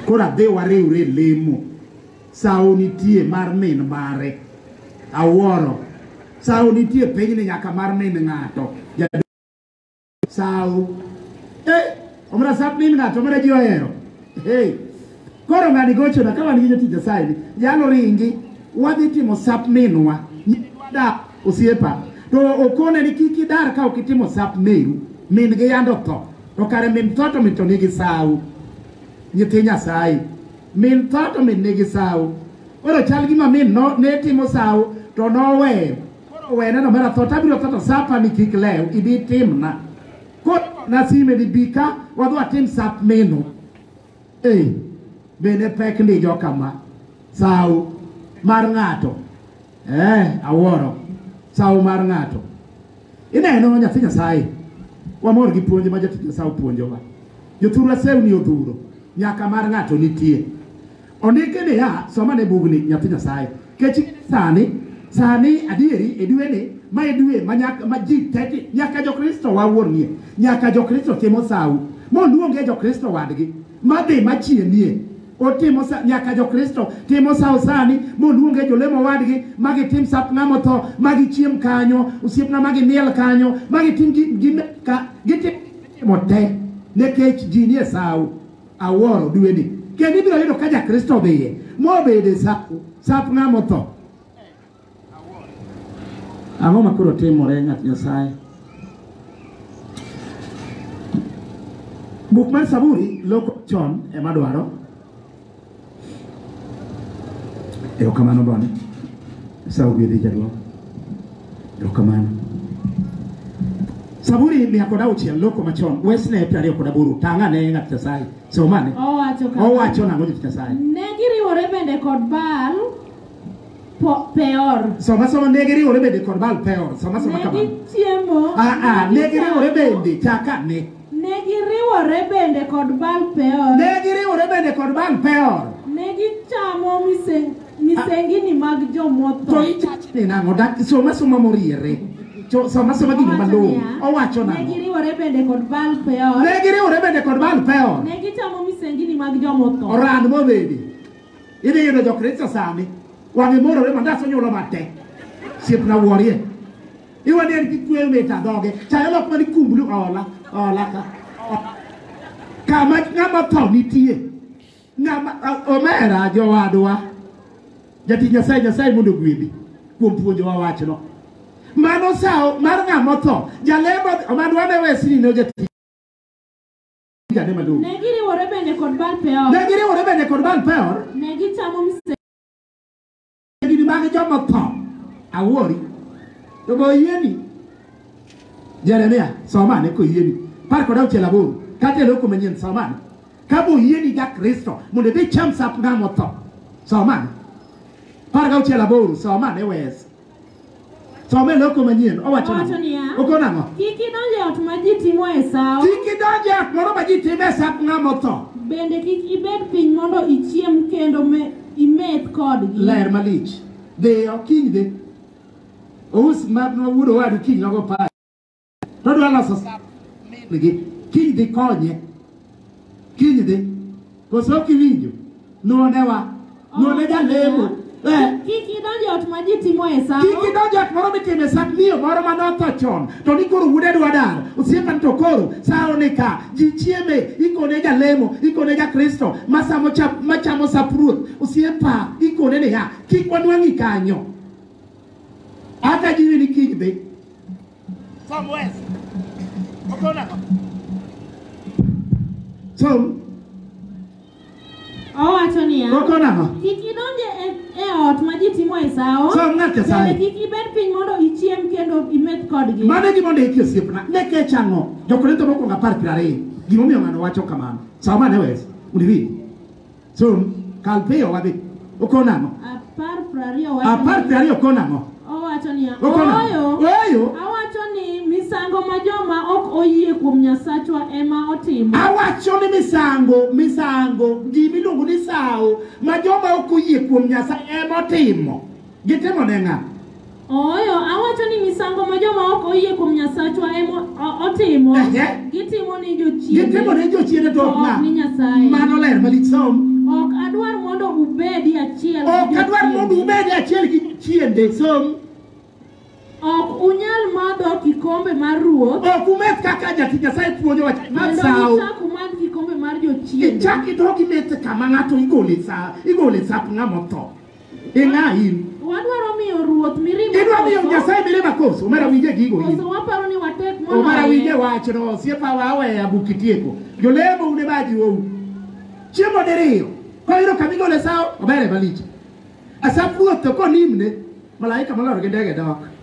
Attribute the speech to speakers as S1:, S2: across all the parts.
S1: Koro adhi wariwre e lemo. Sawo nitie mar min mare. Awuoro. Sawo nitie piny ni nyaka mar min ng'ato. Sawo. Eh, omra sab min ng'ato, omra ji ohero. Hey. Koro ng'ani gochona ka wan gi jotich Nyasaye ni, yalo ringi, wadhi timo sap minwa. Nyitwada osiepa. To okone ni kik idar ka ok itimo sap meru. Min gi yando tho. To kare min tho to min to nigi sawu. Nyithi Nyasaye. Min tho to min nigi sawu. Koro chal gima min no, ne timo sawu to noweyo. Koro wene no mera tho to abiro tho to sapa ni kik lew ibi timna. Koro nasime ni bi ka wadhi watim sap meno. Ei, bende pek ndi jokama sawo mar ng'ato eh, awuoro sawo mar ng'ato ineno nyathi nyasaye wamor gi puonj ma jatich nyasaye opuonjowa jothurwa sewni odhuro nyaka mar ng'ato nitie ondike niya somane bugni nyathi nyasaye Kechi sani sani adieri e dwe ni ma e dwe ma nyaka ma ji tete nyaka jo Kristo wa wuon nie nyaka jo Kristo timo sawu mo luonge jo Kristo wadgi ma dhi ma chie nie otimo sa nyaka jo Kristo timo sawu sani mo luonge jo lemo wadgi ma gi tim sap ngamo tho ma gi chiem kanyo osiep na ma gi miel kanyo ma gi tim gi gi ka gi timo te ne kech ji nie sawu awuoro dweni kendo ibiro yudo ka jakristo dhiye mobede sap ng'ama otho ang'o ma koro timore ng'at nyasaye buk mar saburi loko chon ema dwaro Erokamano bwana. Sasa ugedhi jaduong'. Erokamano. Saburi mia kod auchiel loko machon wesne piero ariyo kod aboro tang' ane ng'at Nyasaye somane Owacho kama. owacho nang'o jot Nyasaye Ne giriwore bende
S2: kod Baal po- Peor. soma soma ne giriwore
S1: bende kod Baal Peor soma soma Ne kamano gichiemo. ah ah ne giriwore bende chaka ne Ne giriwore
S2: bende kod Baal Peor. Ne giriwore bende kod Baal Peor. Ne gichamo miseng- misengini mag To jomotho. ichachne
S1: nang'o? Dak- Som asoma moriere. Cho- Som asoma gino Owacho malong'o. niya, Owacho Ne nang'o? giriwore bende kod
S2: Baal Peor. Ne giriwore bende kod Baal Peor. Ne gichamo misengini mag jomotho. Oran mobedi.
S1: Idhi yudo Jokristo sani. Wang'e morore mandas onyulo matek. Siepna wuorie. Iwani en gi kueyo mit adhoge. Chayo lok mani kumbulu ola. Ola ka. Kama ng'ama tho nitie. Ng'ama omera jowadwa. Jati Nyasaye Nyasaye mondo gwedhi kuom puonjowa wachno. Mano sawo mar ng'ama tho. Jalemo omadwa ne wesini ne jati. Jane maduong'. Ne giriwore bende kod
S2: Baal Peor. Ne giriwore bende kod Baal Peor. Ne gichamo mse gini
S1: mag joma tho awori to be oyieni jeremia somane koyieni par kod auchiel aboro kata e loko manyien somane ka be oyieni ja kristo mondo idhi cham sap ng'ama otho somane par gauchiel aboro somane wes Some loko manyien owacho Owacho niya, nang'o? Okon ang'o? Kik idonj e ot
S2: ma ji timoe sawo, Kik idonj e ot
S1: moro ma ji time e sap ng'ama otho. bende kik ibed
S2: piny mondo ichiem kendo me- imeth kodgi. Ler malich.
S1: Dhiyo kiny dhi. Ous ma ma wuod owadu kiny nogo pa To dwa loso gi kiny dhi konye. Kiny dhi. Koso ok iwinjo. Nuone wa. Nuone jalemo. Eh. Kik
S2: idonj ot ma ji timo e sawo. Kik idonj ot moro
S1: mitime sa miyo moro ma notho chon to ni koro wuode dwa dar. Osiepa to koro sawo ni ka ji chieme ikone jalemo ikone ja Kristo ma samo chap ma chamo sap ruoth. Osiepa ikone niya kik wanwang'i kanyo. Hata jiwi ni kiny dhi. Tom West.
S2: Okona. Tom. Owacho niya. Okona. Kik idonje
S1: e,
S2: e ot ma ji timo e sawo. Tom ng'at Nyasaye. Kik ibed piny mondo ichiem kendo imeth kodgi. Mano e gima ondiki osiepna.
S1: Ne kech ang'o? Jokorintho mokwongo apar piero ariyo. Gimomiyo ng'ano wacho kamano. Sawo mane West. Undi Chung', kal piyo wadhi. Okono ang'o? Apar prariyo wacho Apar ni- prariyo okono ang'o? Owacho niya,
S2: Okono ang'o? ooyo, Ooyo. awacho ni misango ma joma ok oyie kuom Nyasachwa ema otimo. Awacho ni misango,
S1: misango, gimiluongo ni sawo ma joma ok oyie kuom Nyasaye ema otimo. Gitimo ne ng'a? Ooyo,
S2: awacho ni misango ma joma ok oyie kuom Nyasachwa ema o- otimo, Ehe. gitimo
S1: ni jochiende, Gitimo
S2: ne
S1: jochiende to to ok ok ni ng'a?
S2: Nyasaye.
S1: Mano ler
S2: malich som.
S1: Ok adwar mondo
S2: ubedi achiel gi Ok adwar
S1: jochiende. mondo ubed achiel gi chiende som.
S2: Ok unyal madho kikombe mar ruoth Ok umeth kaka
S1: jati Nyasaye puonjo wach mar kendo sawo. uchak umadh kikombe
S2: mar jochiende. Ichak idog imeth
S1: kama ng'ato igole sa igole sap ng'ama otho. Ing'a in. Wadwaro miyo ruoth
S2: mirima Idwa miyo koso? Nyasaye mirima
S1: koso? Omera winje gigo in. Koso waparo ni watek
S2: Omera winje moloye? wachno
S1: osiepa wa aweya buk itieko. Jolemo une baji ou. Chiemo diriyo. Kwa hilo kamigo le sao obere malich. Asap ruoth to konimne malaika molor gi ndege dok.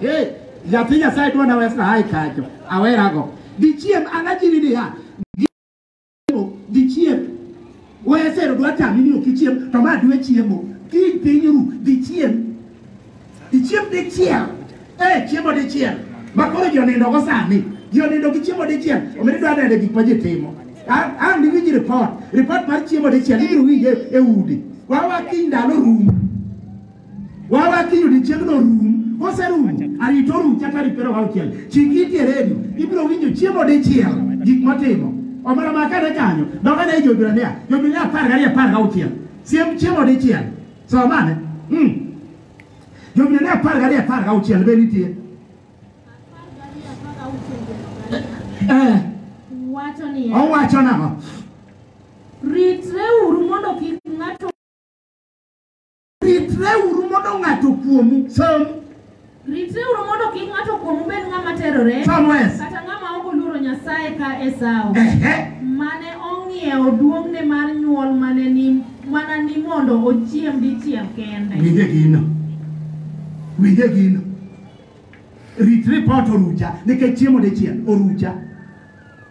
S1: Hey, nyathi Nyasaye dwa na wesna hai kanyo. Awera go. Dichiem anajiri ni ha. Gichiemo, Dichiem. Wesero dwa tami ni okichiem to ma dwe chiemo. Ki piny ru dichiem. Dichiem dichiel. Eh, chiemo dichiel. Ma koro ji onindo go sani. Ji onindo gi chiemo dichiel. Omere dwa nene gik ma ji timo. An an iwinj report. Report mar chiemo dichiel ibiro winje e udi. Wawa kiny ndalo rumo. Wawa kiny odiechiengno rum, koserum, arito rum chakre tarik piero auchiel. Chik iti e redio, ibiro winjo chiemo dichiel gik motimo. Omera ma kane kanyo, doka ne jo-Hibrania, jo-Hibrania apar gariyo apar gauchiel. Siem chiemo dichiel. Somane? Mm. Jo-Hibrania apar gariyo apar gauchiel be nitie. Eh,
S2: Wacho niya, owacho nang'o?
S1: ritreuru
S2: mondo kik ng'ato Ritreuru mondo ng'ato kuomu.
S1: Som. Ritreuru
S2: mondo kik ng'ato kuomu bed ng'ama terore. Somewhere. Kata ng'ama ok oluoro Nyasaye ka Esau. Ehe. Mane ong'iewo duong'ne mar nyuol mane ni mana ni mondo ochiem dichiel kende. Winje gino.
S1: Winje gino. Rit report orucha nikech chiemo dichiel orucha.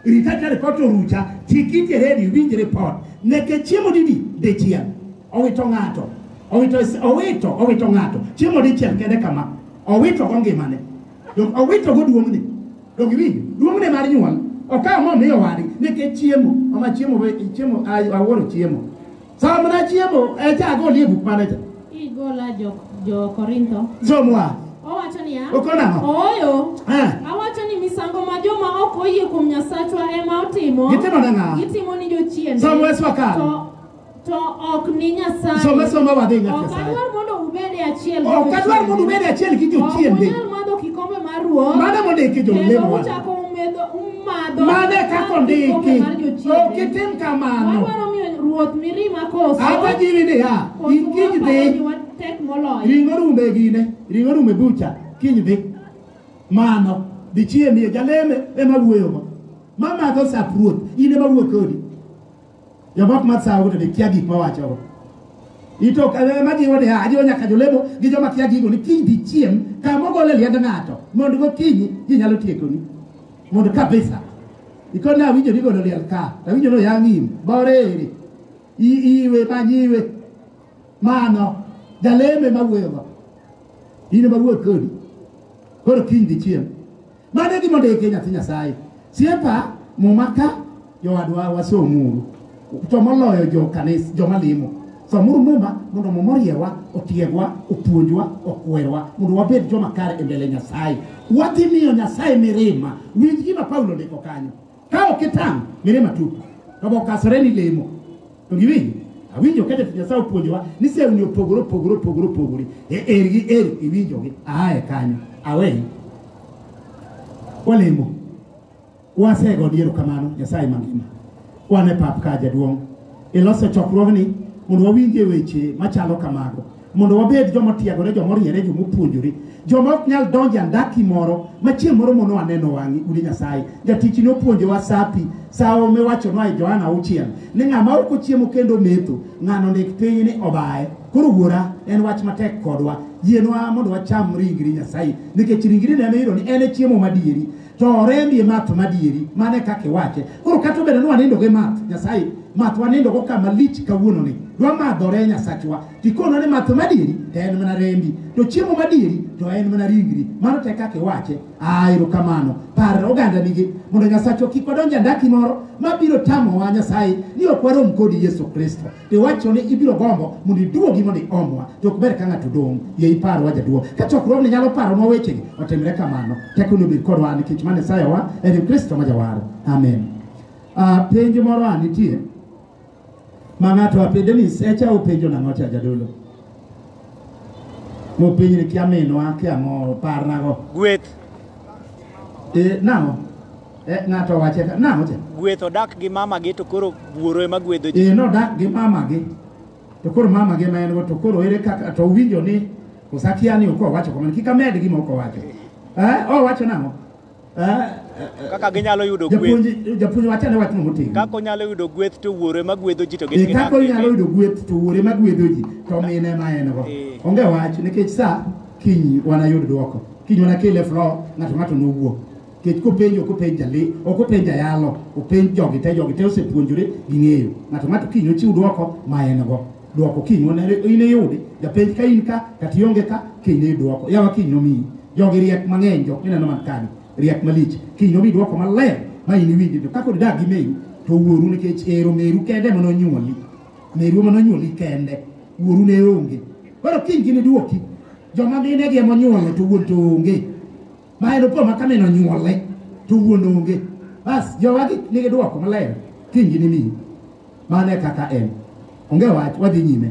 S1: Rita ka ripot orucha, chik iti e redio iwinj ripot. Neke chiemo didi dichiel. Owito ng'ato. Owito owito owito ng'ato. Chiemo dichiel kende kama. Owito go ngimane. Dong owito go duong'ne. Dong iwinj duong'ne mar nyuol. Okawo mo miyo wadi neke chiemo. Mama chiemo we chiemo awuoro chiemo. Sama na chiemo e cha go lie buk mane cha. Igola jo
S2: jo Korintho. Somwa.
S1: Owacho niya.
S2: Okona. Ooyo.
S1: Eh.
S2: Awacho ni misango ma joma ok oyie kuom Nyasachwa ema otimo. Gitimo ne ng'a? Gitimo ni jochiende. Somwa Yesu akalo. To to ok ni Nyasaye. Soma soma wadhi ng'a Nyasaye.
S1: Ok adwar mondo ubed
S2: e achiel. Ok adwar mondo ubed
S1: e achiel gi jochiende. Ok unyal madho kikombe
S2: mar ruoth. Mano mondiki jo lemo. Kendo
S1: uchako
S2: madho Mano e kaka
S1: ondiki. kikombe mar jochiende. Ok itim kamano. Wadwaro miyo ruoth
S2: mirima koso. Hata jiwi niya,
S1: Koso in kiny waparo ni dhi, watek moloyo. ring'o rume gine, ring'o rume bucha, kiny dhi. Mano, dhi chiemie, jaleme ema wuoyogo. Mamadho sap ruoth, in ema wuo kodi. Joma ok madh sawogo to dikia gik mawachogo. Ito ema jiwo niya, ajiwo nyaka jolemo gi joma kia gigo ni kiny dichiem kama ogol e liend ng'ato mondo gokinyi ji nyalo tiekoni mondo kabisa ikoni awinjo ni godo liel ka to awinjo ni oyang' im boreri I- iwe manyiwe mano jaleme mawuoyogo in ema wuoyo kodi koro kiny dichiem Mano e gima ondiki nyathi Nyasaye. Siepa muma ka jowadwa wasomuru. To moloyo jo kanis joma limo. Somuru muma mondo muma oriewa, otiegwa, opuonjwa, okwerwa mondo wabed joma kare e mbele Nyasaye. Wadhi miyo Nyasaye mirima. Winj gima Paulo ndiko kanyo. Ka ok itang' mirima tupo. To bokasore ni lemo. Iwinjo? Awinjo ka jatich Nyasaye opuonjowa ni sewni opogore opogore opogore opogore. E er gi er iwinjogi. Aye kanyo. Aweyi. Walemo. Wasego ni erokamano Nyasaye mangima. Wan e pap ka jaduong'. Iloso chokruogni mondo wawinjie weche machalo kamago. mondo wabed joma otiegore joma oriere joma opuonjore joma ok nyal donjo e andaki moro ma chieng' moro mono aneno wang'i udi nyasaye jatich ne opuonjowa sapi sawo miwachonwa e johana auchiel ni ng'ama ok ochiemo kendo metho ng'ano ndik piny ni obaye koro wuora en wach matek kodwa yienwa mondo wacham ringri nyasaye nikech ringri neno yudo ni en e chiemo madieri to orembi e math madieri mano e kaka iwache koro kata obedo ni wanindo gi math nyasaye math wanindo go kama lich kawuononi dwamadhore nyasachwa tikono ni math madieri to en mana rembi to chiemo madieri to en mana ringri mano te kaka iwache a erokamano par oganda nigi mondo nyasachwa kik wadonj e andaki moro mabiro tamowa nyasaye ni ok warom kodi yesu kristo iwacho ni ibiro gombo mondo iduogi mondo iomwa to ok ber ka ng'ato dong' ye iparwa jaduong' ka chokruogni nyalo paronwa wechegi otimre kamano tekoni obed kodwa nikech mane sayowa en kristo ma jawar amen uh, penj moro a nitie ma ng'ato apende ni secha openjo nang'o cha jadolo mopenj ni kia minwa kia ng'o parnago gweth e, nang'o Eh, ng'ato owache ka na oche gweth odak gi mama
S3: gi to koro wuoro ema gwedho ji eh nodak gi mama gi
S1: to koro mama gi ma en go to koro ere kaka to winjo ni osakia ni uko wacho kamano kika med gi moko wacho eh o wacho nang'o eh
S3: kaka ginyalo yudo gweth japuonj wacho ne wach
S1: motingo kaka onyalo yudo gweth
S3: to wuoro ema gwedho ji to gin eh, kaka onyalo yudo gweth
S1: to wuoro ema gwedho ji to mine ma en go eh. onge wach nikech sa kiny wanayud dwoko kiny wanakel e flo ng'ato ng'ato nowuo Nikech kopenjo ok openj jale, ok openj jayalo, openj jogi te, jogi te osepuonjore ging'eyo. Ng'ato ng'ato kiny ochiw dwoko ma en go. Dwoko kiny wan in iyudi, japenj ka in ka, kata ionge ka, kiny iyud dwoko. Yawa kiny nomiyi. Jogi riek mang'eny, jok mineno man kani, riek malich. Kiny nomi dwoko maler ma in iwinji. To kaka odag gi meru, to wuoru nikech ero meru kende ema nonyuoli. Meru ema nonyuoli kende. Wuoru ne onge. Koro kiny giniduoki. Joma mine gi ema onyuolo to wuon to onge. ma en opo ma kamin onyuole to wuon onge bas jowagi nigi dwoko maler kiny ginimiyi mano e kaka en onge wach wadhi nyime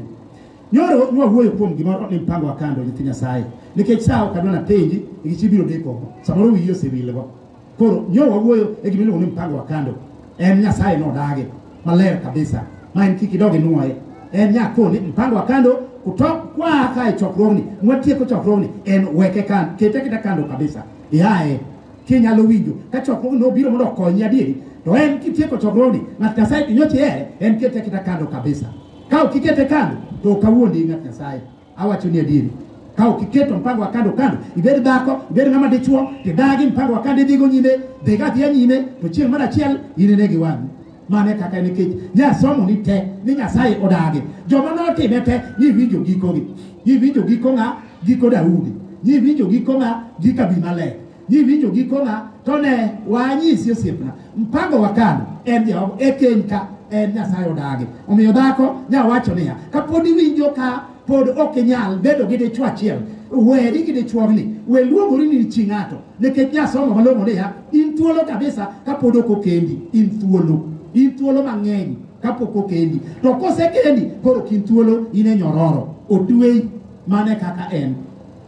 S1: nyoro nwawuoyo kuom gimoro ni mpango wa kando nyithi nyasaye nikech saa ok adwa napenji nikech ibiro deko samoro wiyi osewilgo koro nyo wawuoyo e gimiluongo ni mpango wa kando en nyasaye nodage maler kabisa ma en kik idog inwoye en nyakoni mpango wa kando kutok kwa ka e chokruogni mwatieko chokruogni en weke kan kete kita kando kabisa yaye kinyalo winjo ka chokruogni nobiro mondo okonyi adieri to en kitieko chokruogni ng'at nyasaye inyochi ere en kete kita kando kabisa ka ok ikete kando to ok awuondi ng'at nyasaye Awacho ni adieri, ka ok iketo mpango wa kando kando, ibed dhako, ibed ng'ama dichuo, tidagi mpango wa kando idhigo nyime, dhiga adhiya nyime, to chieng' mar achiel inene gi wang'i. Mane kaka nikech nyasomo ni te ni Nyasaye odagi. Joma notime te niwinjo gikogi. Niwinjo giko ng'a? Giko Daudi. Niwinjo giko ng'a? Giko Abimelek. Giwinjo gikona to ne wanyisi osiepna. Mpango wakano en Jehova e keny ka en Nyasaye odagi. Omiyo dhako nyawacho niya, kapod iwinjo ka pod ok inyal bedo gi dichwo achiel, weri gi dichwogni, we luongori ni chi ng'ato, nikech nyasomo malong'o niya, in thuolo kabisa kapod ok okendi, in thuolo, in thuolo mang'eny kapok okendi. To kosekendi, koro ok in thuolo, in e nyororo, otweyi mana kaka en.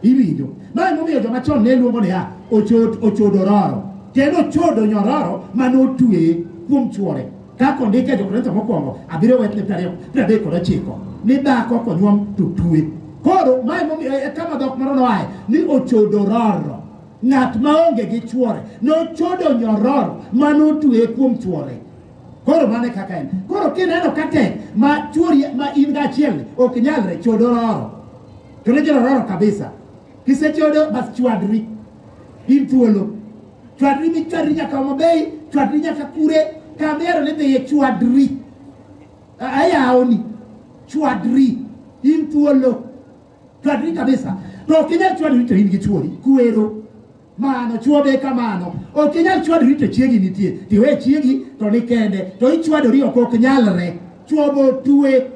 S1: iwinjo ma emomiyo joma chon ne luongo niya ochod ochodo roro kendo ochodo nyororo mane otweye kuom chuore kaka ondik e jokorintho mokwongo abiriyo wetne piero ariyo piero adek kod ochiko ni dhako konyuom to twe koro ma emomiyo e kama dhok moro noaye ni ochodo roro ng'at maonge gi chuore nochodo nyororo mane otweye kuom chuore koro mane kaka en koro kineno ka tek ma chuori ma in gachiel ok nyalre chodo roro To ne jorororo kabisa. Kisechodo bas chwadri. In thuolo. Chwadri mi chwadri nyaka Homa Bay, chwadri nyaka kure, kamero ne dheye chwadri. A- Ayawoni. Chwadri. In thuolo. Chwadri kabisa. To ok inyal chwadri to in gi chuori. Kuero. mano chuo be kamano ok inyal chwadori to chiegi nitie tiwe chiegi to ni kende to ichwadori ok ok nyalre chuo bo tue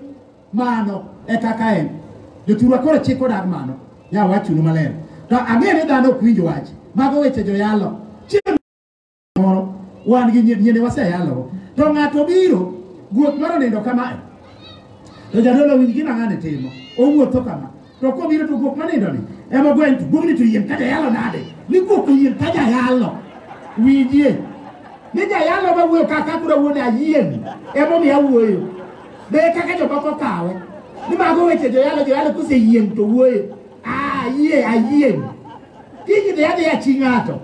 S1: mano e kaka en jothurwa koro chik odag mano ya wachunu maler to ang'e ni dhano ok winj wach mago weche joyalo chieng' moro wan gi nyi- nyiende waseyalogo to ng'ato biro guok moro nindo kamae to jadolo winj gima ng'ane timo owuotho kama to kobiro to guok manindoni ema ogweny to guogni to yien ka jayalo nade ni guok to yien ka jayalo winjie ni jayalo ma wuoyo kaka kura wuone ayien emomiyo awuoyo be kaka jomoko kawe ni mago weche joyalo joyalo koseyien to wuoyo ayie ayien kiny dhi adhiya chi ng'ato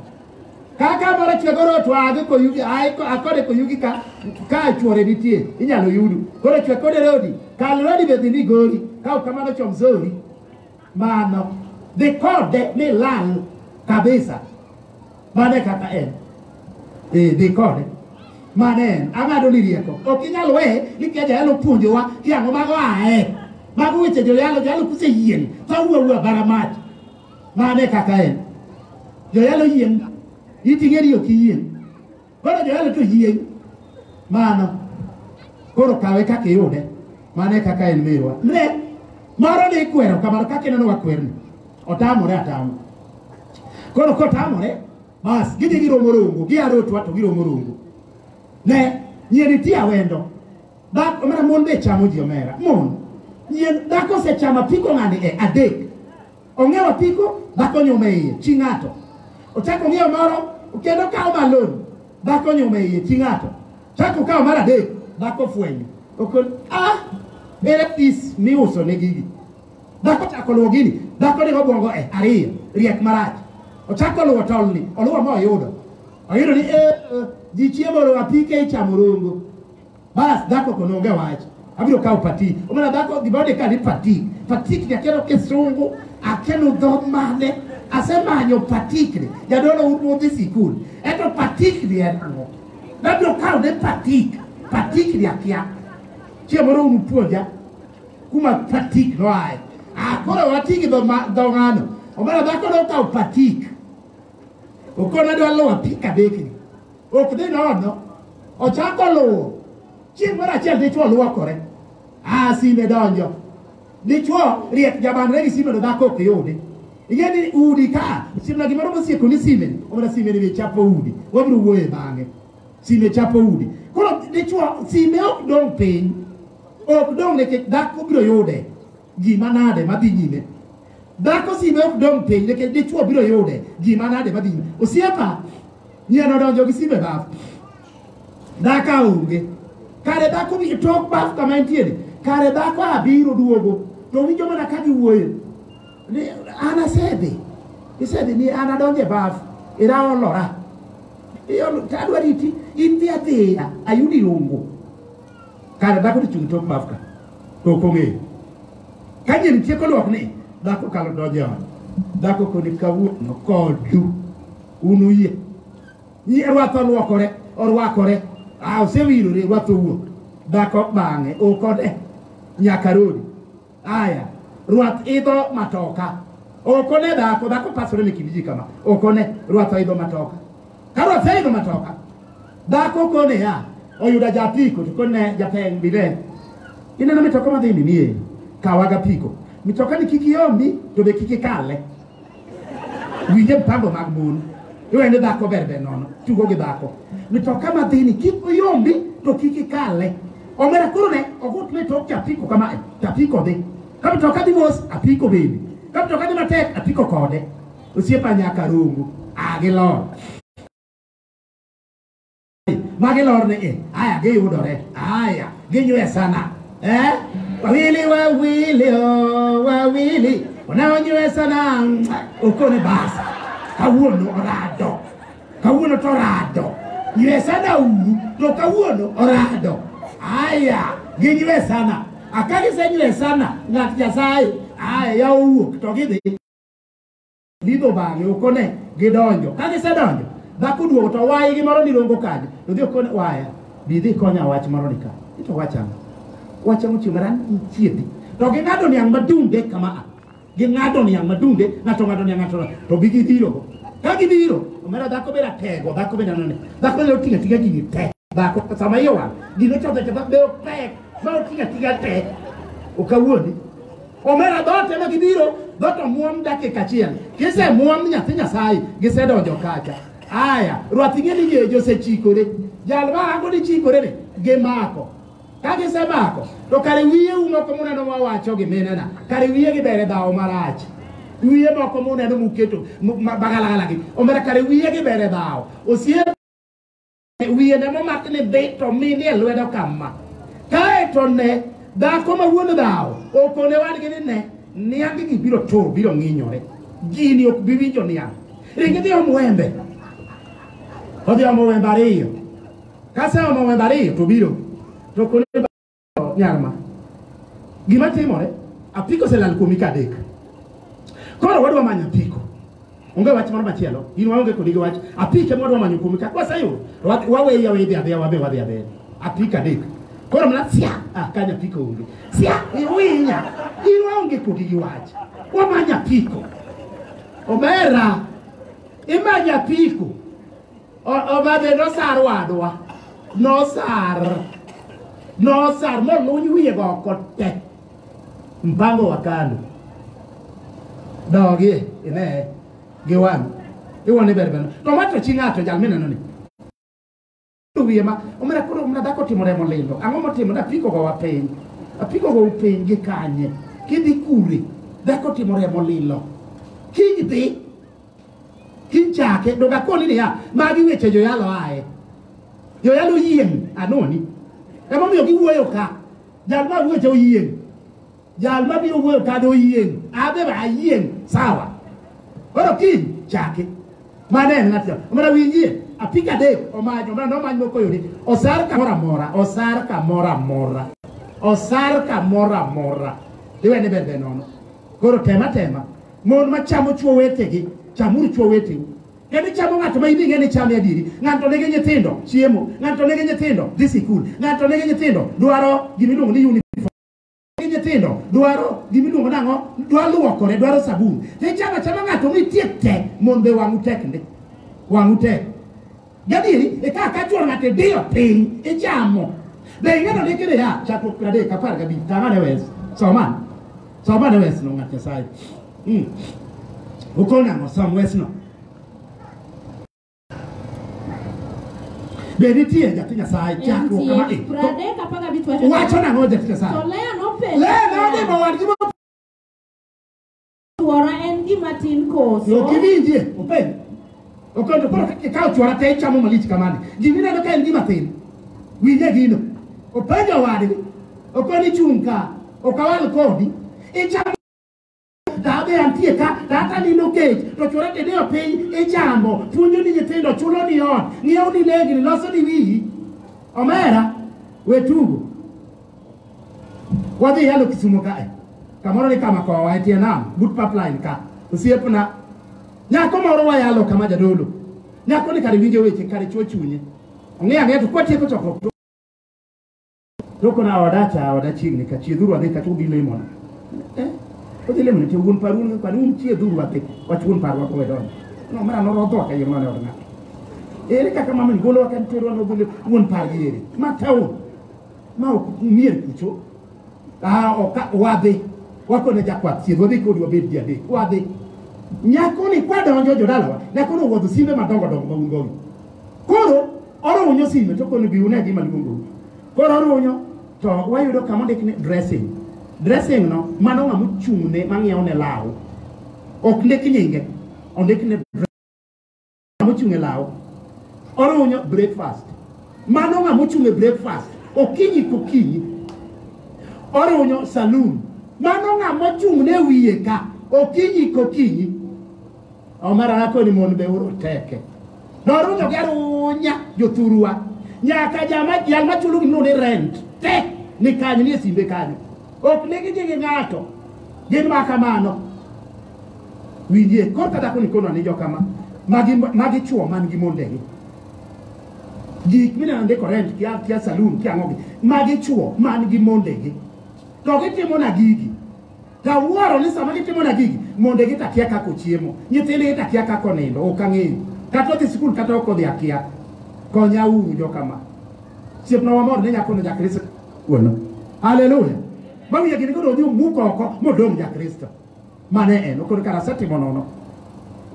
S1: Kaka moro chwe koro otwage koyugi ae ko- akode koyugi ka ka chwore nitie inyalo yudu. Koro chwe kode rodi kal rodi be dhi migori ka ok kamano chom zori. Mano dhi kode ni lal kabisa. Mano e kaka en. Eh, dhi kode. Mano en ang'ado ni rieko. Ok inyal we ni kia jayalo puonjowa ki ang'o mago ae. Mago weche joyalo jalo kuse yien. Fa wuwa wuwa bara mach. Mane kaka en. Joyalo yiem. Iting'e ni ok iyiem. Koro joyalo to yiem. Mano. Koro kawe kaka iyude. Mane kaka en mirwa. Ne. Moro ne ikwero kamano kaka ineno wakwerni. Otamore atamo. Koro kotamore, bas gidhi giromo rongo, giyaro otwa to giromo rongo. Ne, nyiri ti awendo. Dak, omera mon be chamo ji omera. Mon. Nyien, dhako osechamo apiko ng'ani e adek. Ong'iewo apiko dhako nyume iye chi ng'ato. Ochako ong'iewo moro kendo kawo balon dhako nyume iye chi ng'ato. Chako kawo mar adek dhako fwenyo. Okon ah ere pis miuso ne gigi. Dhako chako luwo gini dhako ni obwongo e ariyo riek marach. Ochako luwo tolni oluwo ma oyudo. Oyudo ni eh, eh, ji chiemo oro apike ichamo rongo. Bas dhako to nonge wach. Abiro kawo pati. Omana dhako gima onde ka ni pati. Patikni akelo kisungu, akelo dho mane, asemanyo patikni. Jadolo un udhi sikul. Eto patikni en ang'o? Nabiro kawo ne patik. Patikni akia. Chieng' moro un puonja kuma patik noaye. Ah, koro wati gi dho ma- dho ng'ano. Omana dhako nokawo patik. Okona dwa lowa pika bekni. ok dhi nono ochako luwo chieng' moro achiel dichwo luokore a sime donjo dichwo riek jabanre gi sime to dhako ok yudi ing'e ni udi ka simna gimoro mosieko ni sime omana sime ni chapo udi wabiro wuoye bang'e sime chapo udi koro dichwo sime ok dong' piny ok dong' nikech dhako biro yude Gima nade madhi nyime? Dhako sime ok dong' piny nikech dichwo biro yude. Gima nade madhi nyime? Osiepa, nyien odonjo gi sime baf. Dhaka onge. Kare dhako bi tok baf kama entiere. Kare dhako abiro duogo. To winjo mana ka giwuoyo. Ni an asedhi. Isedhi ni an adonjo e baf. Ira olora. Iolo, tadwa riti. In dhi adhiya. Ayudi ongo. Kare dhako to chung' tok bafka to ok ong'eyo. Ka nyiri tieko luok ni dhako kalo donjo e ot. Dhako koni kawuono kodu un uyie. Nyi rwath olwokore orwakore ah, osewirore rwath owuok. Dhako bang'e okode nyaka rodi. Aya, rwath idho matoka. Okone dhako, dhako pasore ni kindiji kama. Okone, rwath idho matoka. Ka rwath idho matoka, dhako kone ya, oyuda japiko, to kone japeng bile. Ineno mitoka madhi ni nie, kawaga piko. Mitoka ni kiki yombi, to be kiki kale. winje mpango mag mon iwe ni dhako ber ber nono tugo gi dhako mitoka madhini kik oyombi to kik ikale omera koro ne ogut ne tok chapiko kama chapiko dhi ka mitoka dhi mos apiko bende ka mitoka dhi matek apiko kode osiepa nyaka rongo agilor ma gilor ni i aya giyudore aya ginywe sana eh? wawili wawili oh, wawili wanaonywe sana mm, ukone basi kawuono orado kawuono to orado nywe sana uru to kawuono orado aya ginywe sana akagisenywe sana ng'at nyasaye aya yawuok to gidhi lidho bang'e okone gidonjo ka gisedonjo dhako duogo to wayi gi moro nirongo kadi to dhi okone waya bi dhi konya wach moro ni ka to wachamo wachamo chieng' maran ichiedhi to ging'ado niang' madunde kama a ging'ado niang' madunde ng'ato ng'ado niang' ng'ato ng'ato. to gigidhirogo ka gidhiro omera dhako beda tego dhako beda none dhako beda oting'a ting'a gigi te dhako sama iye wang' gino chodhe chodhe be opek ma oting'a ting'a te okawuondi Omera dhoot ema gibiro, dhoot omuom dakika achiel. Kisemuom ni nyathi Nyasaye, gisedonjo kacha. Aya, rwath ing'e ni gejo osechikore. Jal ma rango ni chikore ni, gimako. Ka gisemako, to kare wiye u moko muneno mawacho gi minena, kare wiye gibere dhawo marach. Wiye moko muneno muketo mu- ma- bagalagala gi, omera kare wiye gibere dhawo. Osiepe wiye ne momak ni dhi to minie lwedo kama kae to ne dhako ma wuon dhawo okone wadgi ni ne niangigi biro tur biro ng'inyore gini ok bi winjo niang' ringi dhi om wembe odhi omo wembe ariyo kaseomo wembe ariyo to biro to kone nyar ma gima timore apiko oselal kuomi ka adek koro wadwa manyo apiko onge wach moro machielo in waonge kodi gi wach apiko ema wadwa manyo kuomi ka kwaseyudo wa- waweyi aweyi dhi adhiya wabe wadhi adhiya apiko adek koro mana sia ah, kanya apiko onge sia iwinya in waonge kodi gi wach wamanyo apiko omera imanya apiko Obadhe nosar wadwa. Nosar. Nosar moluny wiye go oko te. Mpango wa kando. Dogi ine gi wan. Iwoni ber ber. To wacho chi ng'ato jal mineno ni. Wiye ma omera koro omera dhako timo remo lindo. Ang'o motimo na piko go wa piny. Apiko go piny gi kanye. Kidhi kure. Dhako timo remo lilo. Kidhi Kichake donge akoni niya, magi weche joyalo aye. Joyalo yiem anoni. Ema omiyo giwuoyo ka. Jal ma wuoche oyiem. Jal ma biro wuoyo ka do yiem. Abe ba yiem sawa. Koro kiny chake. Mane en ng'at mana winjie apika adek omanyo mana nomany moko yudi osar kamoro amora osar kamoro amora osar kamoro amora iwene bende nono Koro tema tema, mon ma chamo chwo wetegi, chamuru chwo weteu. Kendo ichamo ng'ato ma in ing'e ni chame adieri. Ng'ato nigi nyithindo, chiemo. Ng'ato nigi nyithindo, dhi sikul. Ng'ato nigi nyithindo, dwaro gima iluongo ni uniform. Nigi nyithindo, dwaro gima iluongo ni ang'o? Dwaro luokore, dwaro sabun. To ichamo achama ng'ato mitiek te, mon be wang'u tek ndi. Wang'u tek. Gadieri e ka ka chuo ng'ate diyo piny ichamo. Be ing'eyo ni kile ya chakruok piero adek apar gabich tama ne wes. Soma. Soma ne wes no ng'at Nyasaye. Mm. Ukona ngo som wes no. Be nitie jati Nyasaye chakruok kama e. Pradek apaga bitu Wacho nang'o jati Nyasaye? To Lea nopenjo. Lea nodhi mawadgi
S2: Chwora en gima tin koso? Ok iwinjie,
S1: openjo. Openjo, koro ikawo chwora te ichamo malich kamane. Gini ineno ka en gima tin. Winje gino. Openjo wadgi. Okoni chung' ka. Ok awal kodi. Ichamo dhabe antie ka dhata nino kech to chwora te diyo piny ichamo puonjo ni nyithindo chulo ni ot ng'iewo ni legni loso ni wiyi omera we tugo Wadhi yalo Kisumo kae. Kamoro ni kama kowa e tie nam, but pipeline ka. Osiepna. Nyako moro wayalo kama jadolo. Nyako ni kare winjo weche kare chuo chunye. Ong'e ang'e to kwatieko chokruok. to- To kona oda cha oda chiegni ka chiedhuru adhi kata udhi lemo na. Eh? Udhi lemo ni to wuon paru ni kwani un chiedhuru adhi. Wach wuon paru wako wedon. No mara no rodho ka yema ne odna. Ere kaka mama ni golo wakan tero no golo wuon paru ere. Ma tawo. ma ok umie kucho ah, oka, wadhi wakone jakwath chiedh wadhi kodi wabed ji adek wadhi nyakoni kwadonjo jodalawa nyakono owuodho simbe madongo dongo ma un gogi koro orunyo sime to koni bi une gima luongo koro orunyo to wayudo kama ondik ni dressing dressing no mano ng'ama ochung'ne mang'iewo ne law ok ndik nyinge ondik ne mochung' e law orunyo breakfast mano ng'a mochung' e breakfast okinyi kokinyi orunyo saloon mano ng'a mochung' ne wiye ka okinyi kokinyi omara nakoni mon be uru teke norunyo gi arunya jothurwa nyaka jama jal machulo gimno ni rent te ni kanyo ni e simbe kanyo ok negi gi ng'ato gin ma kamano winjie koro ka dhako ni kono anijo kama magi magi chuo man gi mondegi gik mineno ndiko rent kia kia saloon kia ngogi magi chuo man gi mondegi to gitimo na gigi tawuoro ni sama gitimo na gigi mondegi to akia kaka ochiemo nyithindgi to akia kaka onindo ok ang'eyo kata odhi sikul kata ok odhi akia konya uru jo kama siepna wamor ni nyakono jakristo wuono haleluya mamiyo gini koro odhi omuk oko modong' jakristo mane en okoro kara setimo nono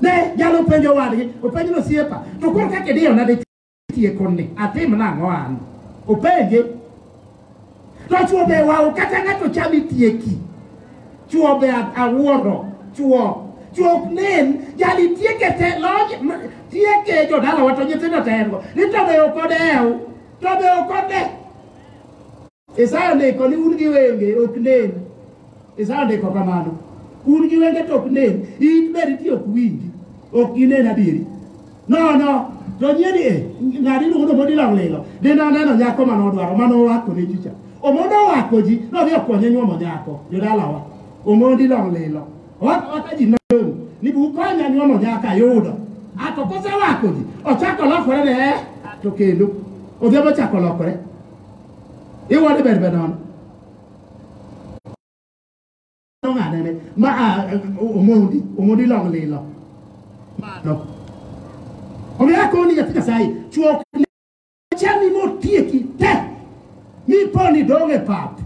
S1: ne jalo penjo wadgi openjo no siepa to koro kake diyo na de tie konni atim nango an openje to chuo be wao kata ngato chami tieki chuo be awuoro chuo chuo nen jali tieke te loj tieke jo dala wato nyithindo tengo ni to be okodew to be okode Isaya ondiko ni un gi wenge ok nen. Isaya ondiko kamano. Un gi wenge to ok nen, in be nitie ok winji, ok ginen adieri. Nono, to nyie ni e, ng'ani iluongo ni Omondi Lawlilo, dine aneno nyako mane odwaro, mane owako ne chicha. Omondi owako ji, nodhi okonye nyuomo nyako, jodalawa. Omondi Lawlilo. Owako owaka ji nayong', ni bu ukonya nyuomo nyako ayudo. Ato kosewako ji, ochako lokore ne, eh, to kendo. Odhi ochako lokore. iwadi bed bed nono ng'adene ma omondi omondi long lilo mano omiyo akoni nyathi nyasaye chuok chami motieki te miponi dong' e pap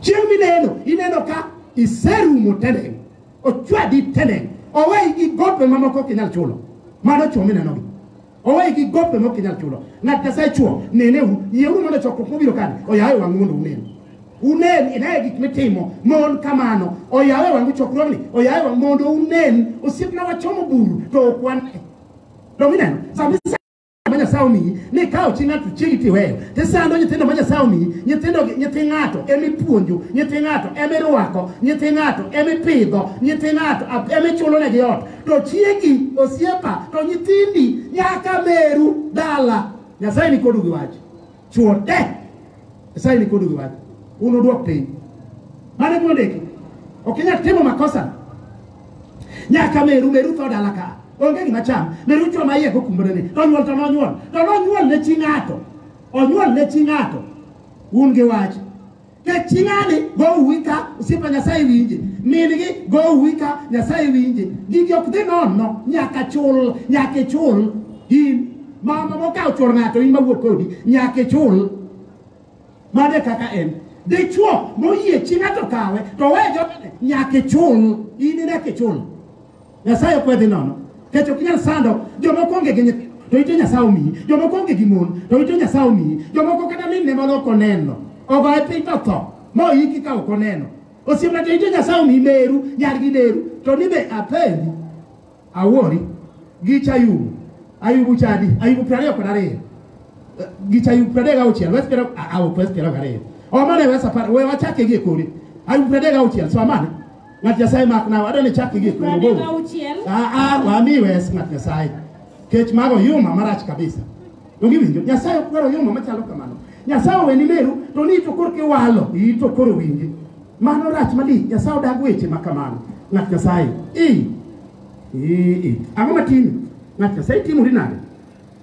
S1: chieng' mineno ineno ka iserumo teneng ochwadi teneng oweyi gi gope mamoko ok inyal chulo mano chuo minenogi owe gi gope mok inyal chulo ng'at nyasaye chuo nenehu yieuru mondo chokruok mobiro kani oyawe wang'u mondo unen unen inaye gik mitimo mon kamano oyawe wang'u chokruogni oyawe wang'u mondo unen osiepna wachomo buru to ok wane domineno sama isa- ma nyasaye omiyi ni kawo chi ng'ato chiegi tiweyo tisando nyithindo ma nyasaye omiyi nyithindo nyithi ng'ato emipuonjo nyithi ng'ato emirwako nyithi ng'ato emipidho nyithi ng'ato emichulonegi ot to chiegi, osiepa, to nyithindi, nyaka meru dala. Nyasaye ni kodu gi wach. Chuo de. Nyasaye ni kodu gi wach. Uno duok piny. Mane gima ndiki. Ok inyal timo makosa. Nyaka meru, meru tho dala ka. Onge gima cham. Meru chwo ma iye kokumbore ni. To nyuol to nonyuol. To nonyuol ne chi ng'ato. Onyuol ne chi ng'ato. Un gi wach. keching'ani gowuwi ka osiepa nyasaye winje min-gi gowuwi ka nyasaye winje gigi ok dhi nono nyaka chul nyaka ichul in mama mokawo chwor ng'ato in mawuok kodi nyaka ichul mano e kaka en dichwo moyie chi ng'ato kawe to we jodene nyaka ichul in nyaka ichul Nyasaye okwedhi nono. Kech ok inyal sando jomoko onge gi nyithindo to ito Nyasaye omiyi, jomoko onge gi mon to ito Nyasaye omiyi, jomoko kata min ne mano ok oneno. Ogoye piny to tho, ma oyiki ka ok oneno. Osiepna to ito Nyasaye omiyi meru, nyar gi meru, to ni be apendi, awori, gich Ayubu, Ayubu chadi, Ayubu piero ariyo kod ariyo, Eh, gich Ayubu piero adek gauchiel, wes piero, a- a- ok wes piero gariyo. Omane wes apar, we wachake gi e kori. Ayubu piero adek gauchiel, so amane. Ng'at Nyasaye mak nawa, adwa ni chak igi Pradek kuno. auchiel. Ah ah, wami wes ng'at Nyasaye. Kech mago yuma marach kabisa. Donge winjo? Nyasaye ok dwaro yuma machalo kamano. Nyasaye oweni meru to ni to korki walo, iyi to koro winji. Mano rach malich, Nyasaye odag weche ma kamano. Ng'at Nyasaye. Ii. Ii. ii. Ang'o matimi? Ng'at Nyasaye timori nade?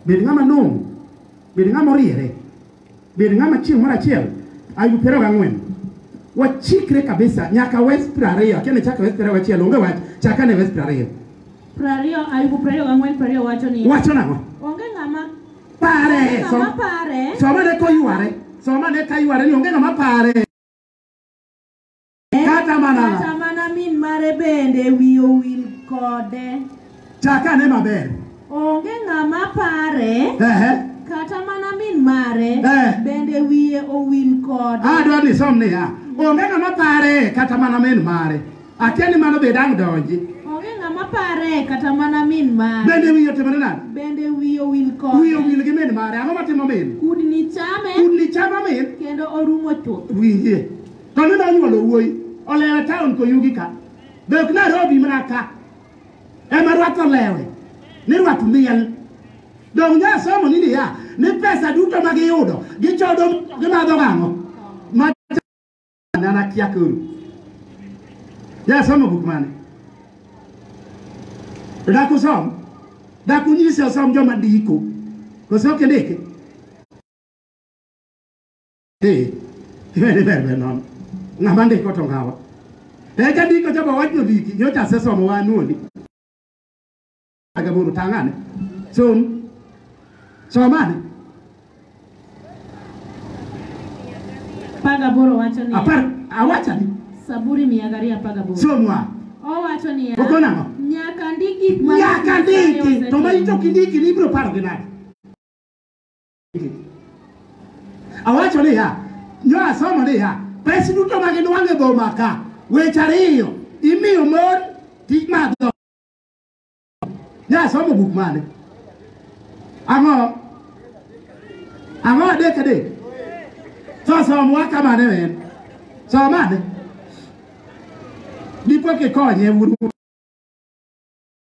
S1: Bed ng'ama nong'o. Bed ng'ama oriere. Bed ng'ama chieng' moro achiel ayu piero gang'wen wachikre kabisa nyaka wes piero ariyo akia ni chaka wes piero achiel onge wach chaka ne wes piero ariyo
S2: Prariyo, Ayubu prariyo gang'wen prariyo
S1: wacho ni wacho nang'o onge ng'ama pare onge ng'ama som- pare somane koyware somane kayware ni onge ng'ama pare Kata mana ng'a. kata mana min mare bende
S2: wiye owil kode. Chak ane
S1: maber. Onge ng'ama
S2: pare, Ehe. kata mana min mare Eh. bende wiye owil kode. Adwa ni som niya.
S1: Onge ng'ama pare kata mana min mare. Akia ni mano be dang' donji. Onge ng'ama pare,
S2: kata mana min mare Bende wiye otimore nade?
S1: bende wiye owil
S2: Wiye kode. owil gi min mare.
S1: Ang'o matimo min? Kudni chame
S2: Kudni chama min? kendo
S1: orumo
S2: chuth. Winjie.
S1: Koni nonyuolo wuoyi olewe taon koyugi ka be ok Nairobi mana ka ema rwath olewe ni rwath miel dong nya somo ni niya ni pesa duto ma giyudo gichodo gimadho gang'o ma nana kia koro nya somo buk mane dak usom dak unyisi osom joma ndiko koso ok indiki Dhi, iwe ni ber ber nono. Ng'ama ndiko to ng'awa. Eka ndiko chaba wachno dhiki, nyocha asesomo wa anuoni. Agaburu tang'ane. Som. Somane. Apar gaboro wacho niya, Apar, awachani. Zaburi mia gariyo apar gaboro.
S2: Somwa.
S1: Owacho niya,
S2: Okon ang'o? nyaka
S1: ndik gik
S2: ma Nyaka Nyasaye ndiki,
S1: to ma osetiyo. ichok indiki ni ibiro paro gi nade? Awacho niya, nyo asomo niya, pes duto ma ginwang'o e boma ka, weche ariyo imiyo mon tij madho. Nyo asomo buk mane? Ang'o? Ang'o adek adek? So somwa kamane men? Somane? Dipo kikonye wuod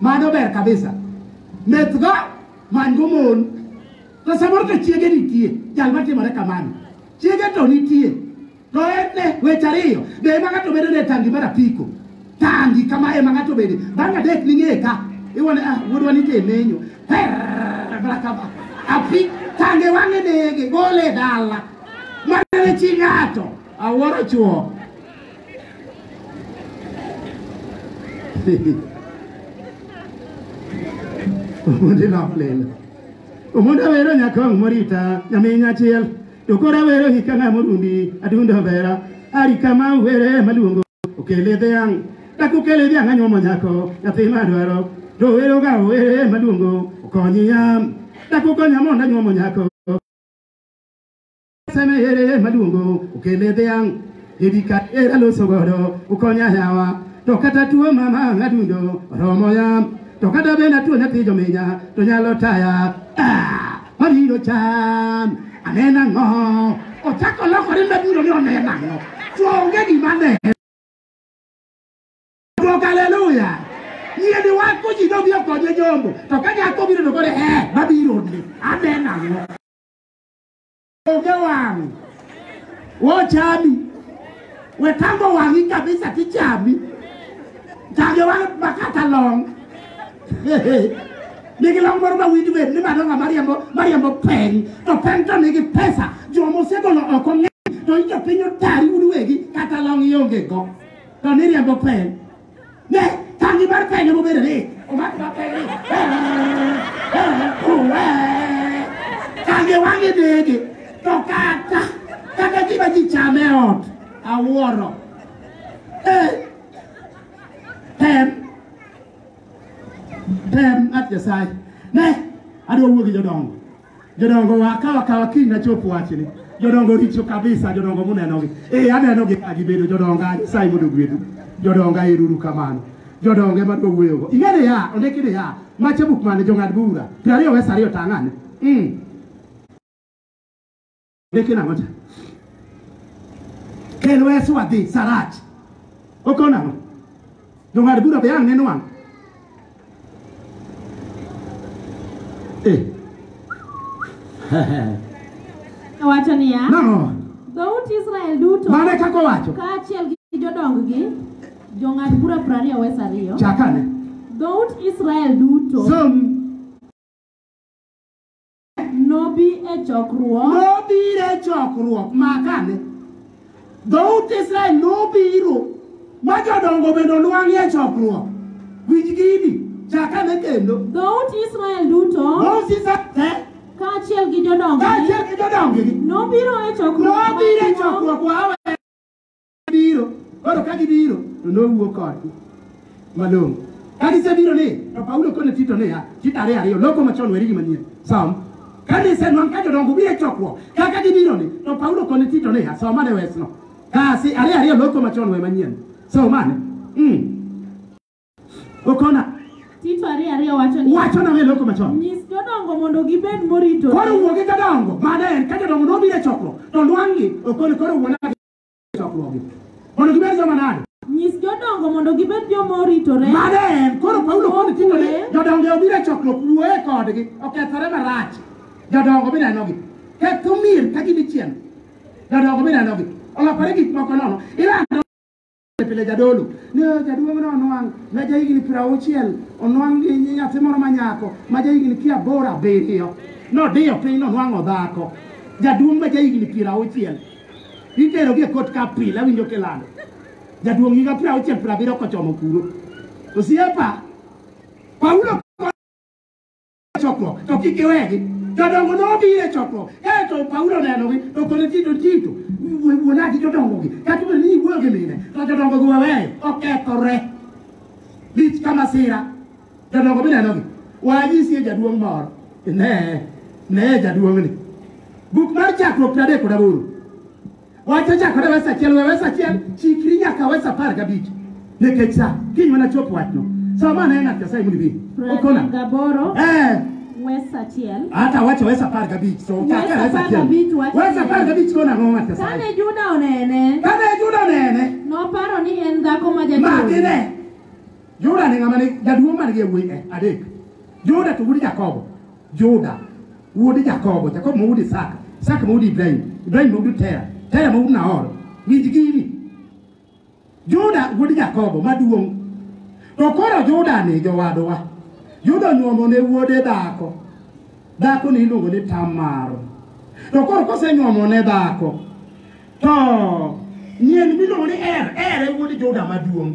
S1: Mano ber kabisa. Methgo man go mon. To samoro to chiege nitie, jal matimore kamano. Chiege to nitie. To en ne weche ariyo, be ema ng'ato bedo ne tangi mar apiko. Tangi kama ema ng'ato bede. Bang' adek ning'e ka. Iwone ah wuodwa nitie menyo. Herr, bra kama. Api tange wang'e nege, gole e dala. Mana ne chi ng'ato. Awuoro chuo. omundi noplelo omundi awero nyakong morita nyamin achiel to koro awero hika ng'a morundi adundo bera ari kama were maluongo okele dhiang' dak okele dhiang' anyuomo nyako nyathi madwaro to wero ga were maluongo okonyi yam dak okonya mondo anyuomo nyako Seme ere maduongo okele dhiang' Ebi ka era loso godo ukonya yawa To kata tuo mama adundo oromo ya To kata benda tuo nyathi jominya to nyalo taya Ah, Mabiro cham anena ng'o Ochako lokore mabiro ni onena ng'o To onge gima ne Rock hallelujah. Yie ni wan ko ji dobi okonye jombo. To ka nyako biro to kore eh mabiro ni. Amen ang'o. Onge wang'. Wochami. Wetambo wang'i kabisa tichami. Tage wang' makata long. nigi long moro ma winj wer ni madonga mariambo mariambo peng to peng to nigi pesa joma osegolo oko ng'eny to ijo piny otari un wegi kata long ionge go to niriambo peng Ne, tangi mar penya mobedo ni, omako mar penya ni, eh, eh, oh, eh. Tangi wang'e nege, to kata, kata gima ji chame e ot, awuoro. Eh, tem, tem, ng'at Nyasaye. Ne, adwa wuo gi jodongo. Jodongo wa kawa kawa kiny na chop wachni. Jodongo richo kabisa jodongo muneno gi. Eh aneno gi ka gibedo jodongo ani sai mondo gwedu. Jodongo iruru kamano. Jodongo ema to wuoyo go. Ingene ya ondiki ni ya mache buk mane jong'ad bura. Piero ariyo wes ariyo tang'ane. Mm. Leke nang'o cha? Kel wesu wadhi Sarach. Okona nang'o? Jong'ad bura be ang' neno wang'.
S2: Eh. Owacho niya, Nang'o? dhout
S1: Israel
S2: duto Mane kaka owacho?
S1: kaachiel gi
S2: jodonggi, jong'ad bura piero ariyo wes ariyo, Chakane.
S1: dhout
S2: Israel duto Som Nobi e chokruok. Nobiro e chokruok makane. Dhout Israel nobiro ma jodongo bende onwang'ie e chokruok. Winj gini, chakane kendo. Dhout Israel duto Dhout Israel te, kaachiel gi jodongo kaachiel gi jodongogi, nobiro e chokruok nobiro e maduong' chokruok wawe biro koro ka gibiro to nowuo kodgi malong'o ka gisebiro ni to paulo kone tito niya tito ariyo ariyo loko machon weri gi manyien som kane isenwang' ka jodongo biro e chokruok kaka gibiro ni to paulo kone tito niya somane wesno kasi ariyo ariyo loko machon we manyien somane mm. okona Tito ariyo ariyo wacho ni wachona we loko machon nyis jodongo mondo gibed moritore. koro wuogi jodongo mane en ka jodongo nobiro e chokruok to nwang'gi okone koro wuona chokruoge mondo gibed joma nade Nyis jodongo mondo gibed joma oritore. mane en koro paulo koni tinde ni jodongo obiro e chokruok wuoye kodgi okethore marach jodongo binenogi ketho mier ka gin ichien jodongo binenogi olokore gik moko nono ilando pile jadolo ni "Oh, jaduong' no onwang' ma ja higni piero auchiel onwang' gi nyi- nyathi moro ma nyako ma ja higni piero aboro abiriyo nodiyo piny nonwang'o dhako jaduong' ma ja higni piero auchiel Iterogi e kot ka pile awinjo kilando. Jaduong' higa piero auchiel piero abiriyo kochomo kuro. Osiepa, Paulo chokruok to kik iwegi. Jodongo nobiro e chokruok kae to Paulo onenogi to kone Tito Tito wuonagi jodongogi kata obedo ni iwuoyo gi mine to jodongogi waweyo okethore. Lich ka masira. Jodongo minenogi, wanyisie jaduong' moro. Ne, ne jaduong'ni. Buk mar chakruok piero adek kod aboro. Wach ochakore wes achiel, we wes achiel, chikri nyaka wes apar gabich.
S1: Nikech sa, kiny mana chop wachno. Sa ma ne ng'at Nyasaye mondo ibi. Okona. Pratim Gaboro, Eh, West Achiel.
S2: hata wacho wes apar
S1: gabich. So, Wes chakre wes apar achiel. gabich wach Wes ne. apar gabich kona ang'o ng'at
S2: Nyasaye. Kane Juda onene, Kane Juda onene, noparo ni en dhako ma jachode. makine.
S1: Juda ne ng'ama ne jaduong' man gi yawuoyi e adek. Juda to wuod Jakobo. Juda wuod Jakobo, Jakobo ma wuod Isaka, Isaka ma wuod Ibrahim, Ibrahim ma wuod Tera, Tera ma wuod Nahor. Winj gini. Juda wuod Jakobo maduong'. To koro Juda ni jowadwa. Juda onyuomo ne wuode dhako. Dhako ni iluongo ni Tamar. To koro kosenyuomo ne dhako to nyien miluongo ni Er, Er e wuod Juda maduong'.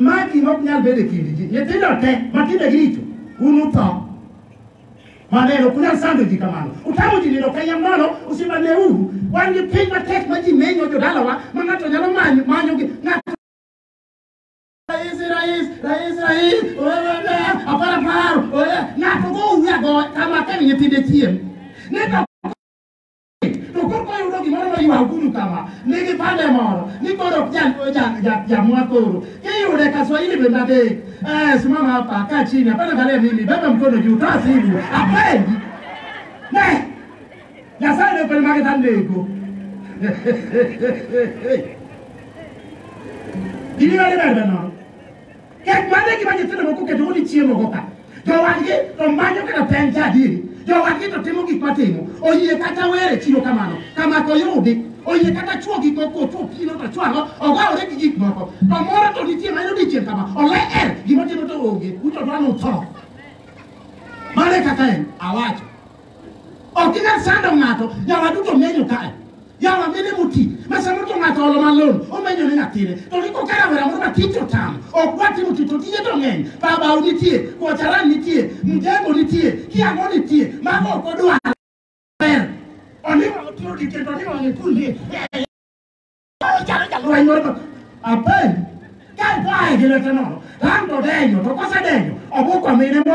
S1: Ma gima ok nyal bedo e kind ji. Nyithindo te ma timbegi richo, un utho. Maneno, ok unyal sando ji kamano. Utamo ji nindo kenya nono, usimaneuru. Wan gi piny matek ma ji menyo jodalawa ma ng'ato nyalo manyo manyo gi ng'ato Rais, rais, rais, rais, oye, apara paro, oye, ng'ato go uya go kama kemi nyithinde chiem. Neta To koro wayudo gimoro moywaguru kama, nigi pande moro ni koro ok ja- ja- ja- jamwa koro. Kiyude ka Swahili bende adek, eh, simama hapa, kaa chini, hapana angalia mimi, beba mkono juu, toa simu, apendi. Ne, Nyasaye ne okoni mage tanego. Gini mane bende no? Kech mane e gima nyithindo moko keto udi chiemo go ka. Jowadgi to manyo kata peng cha adieri. Jowadgi to timo gik matimo. Oyie kata were chiwo kamano. Kama ko yudi. Oyie kata chuo gik moko chuo pino to chuo ang'o. Ogawore gi gik moko. To moro to nitie ma yudi chieng' kama. Ole er gima timo to onge. Uto dwano utho. Mane kaka en awacho. Ok inyal sando ng'ato, yawa duto menyo kae. Yawa mine moti, ma samoro to ng'ato olo malon, omenyo ne nyathine. To ni koka rawera moro ma tich otamo, ok dwa timo tich, to tije to ng'eny. Babau nitie, Kocharan nitie, Mjengo nitie, Kiango nitie, mago ok odwar. Ber. Oliwa otiro dike, to oliwa ne kulie. Ochalo jalweny moro ma- Apen, kae to ae gi lwete nono, to an to denyo, to kosedenyo, obuko mine mo-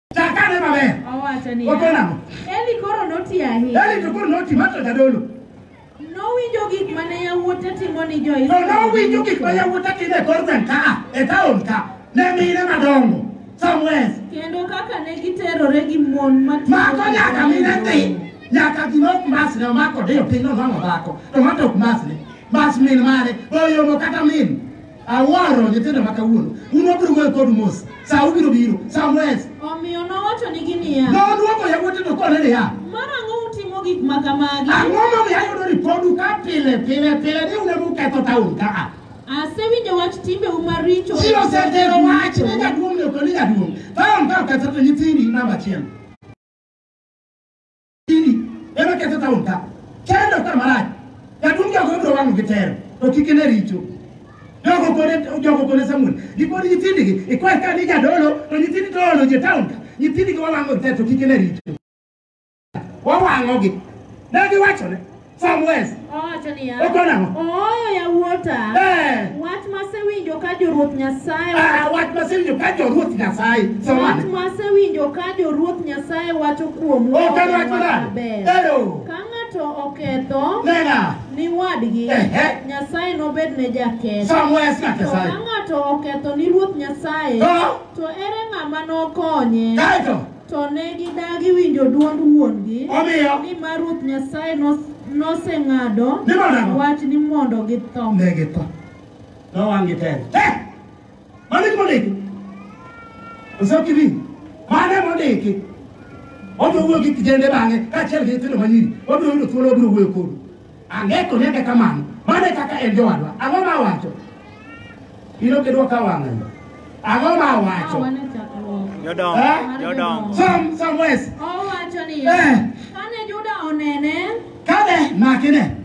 S1: Chakane maber. Owacho niya, Ogo nang'o?
S2: Eli
S1: koro noti
S2: ahinya. Eli to koro noti mar to
S1: jadolo. Nowinjo
S2: gik mane yawuote timo ni To jo-Israel. nowinjo gik ma yawuote
S1: timo e kor gweng' ka a, e taon ka, ne mine madongo, somewhere. Kendo kaka
S2: ne giterore gi mon matindo. Mako nyaka
S1: mine dhi, nyaka gima ok masne omako diyo piny nonwang'o dhako, to ng'ato ok masne. Mas min mare, oyomo kata min. Awaro nyithindo ma kawuono. Un wabiro wuoyo kodu mos. Sa ubiro biro. Samwes. Omiyo nowachonigi
S2: niya, Nodwoko yawuote to
S1: kone niya. Marang'o utimo
S2: gik ma kamagi? Ang'o momiyo ayudo
S1: ripodu ka pile pile pile ni un ema uketho taon kaa? Asewinjo wach
S2: timbeu maricho. Ji osetero
S1: wach ni jaduong' ni ok ni jaduong'. Taon ka oketho to nyithindi namba achiel. Ema ketho taon ka. Kendo ka marach. Jaduong' jogo ibiro wang'o gi tero. To kik ine richo. Jogo kone jogo kone Samuel. Gikoni nyithindigi ikwae ka ni jadolo to nyithindi to olo je taon ka. Nyithindigi wawang'o gi tero to kik ine richo. Wawang'ogi. Ne giwachone. Some words. Owacho niya,
S2: Ogo nang'o? ooyo
S1: yawuota,
S2: Eh. wach masewinjo ka joruoth Nyasaye Ah, wach masewinjo
S1: ka joruoth Nyasaye. wach Somane.
S2: masewinjo ka joruoth Nyasaye wacho kuomu Ok en wach maber. maber. Ero. Ka ng'ato oketho Nena. ni
S1: wadgi, Ehe.
S2: Nyasaye nobed ne jaketho. Some words na To ka
S1: Nyasaye. ng'ato
S2: oketho ni Ruoth Nyasaye, To? to ere ng'ama nokonye? Kaeto. To ne gidagi winjo dwond wuon-gi, Omiyo. nimar Ruoth Nyasaye nos- noseng'ado Ni mondo ang'o? wach ni mondo githo. Ne githo.
S1: Nowang'gi tena. Eh! Mano e mondiki. Osokiri. Mano e mondiki. Obiro wuoyo gi kijende bang'e kaachiel gi nyithindo manyiri. Obiro yudo thuolo obiro wuoyo kodu. Ang'e konyake kamano. Mano e kaka en jowadwa. Ang'o ma awacho? In ok idwok awang'o yo. Ang'o ma awacho? Awa ne chakruok. Jodongo, Eh?
S3: jodongo. Some, some ways.
S1: Owacho niya,
S2: Eh. kane Juda onene, Kane
S1: makine,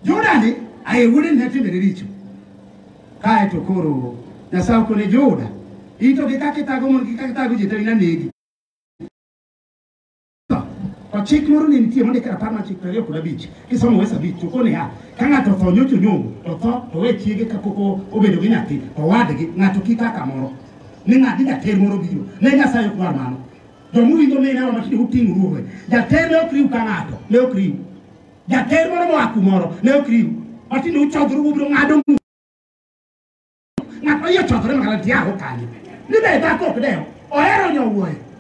S1: Juda ni aye wuode ne timene richo. Kae to koro Nyasaye okone Juda. Ito gi kaka itago mon gi kaka itago ji to inanegi. To chik moro ne nitie mondik e rapar mar chik piero ariyo kod abich kisomo wes abich choko niya ka ng'ato otho nyocha onyombo to tho to we chiege kapok o- obedo gi nyathi to wadgi ng'ato kik kaka moro ni ng'adi jater moro biro ne nyasaye ok dwar mano jomowinjo mine wa matinde uting'o ruowe jater ne ok riw ka ng'ato ne ok riw jater moro moa kumoro ne ok riw matinde uchodhru ubiro ng'ado mu ng'at oyie chodhore makala tiago kanyo ni be dhako ok dewo ohero nyowuoyo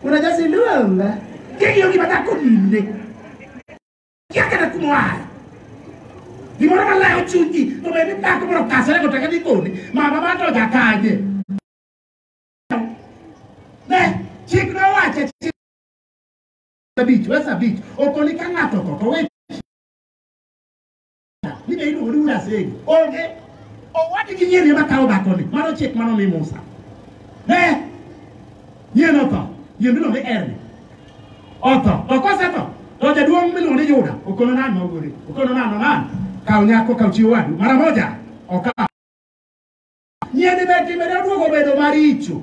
S1: Unajazindua mba. Kiki yogi batako ninde. Yaka na kumwaya. Gimoro malayo chunyi, to bende dhako moro kasere go taka ni kone, mama ma to jakanye. Ne, chik nowache chik abich, wesa abich, okoni ka ng'ato otho, to we Mine iluongo ni wuod Asego. Onge. Owadi gi nyiri ema kawo dhakoni. Mano chik mano mi Musa. Ne. Nyiri notho. Nyiri miluongo ni Erni. Otho. To kosetho, to jaduong' miluongo ni Yuda okono nani ma ogore. Okono nani nani. Kaw nyako kaw chiwo wadu. Mara moja. Okaw. Nyiri be timbe ne oduogo bedo maricho.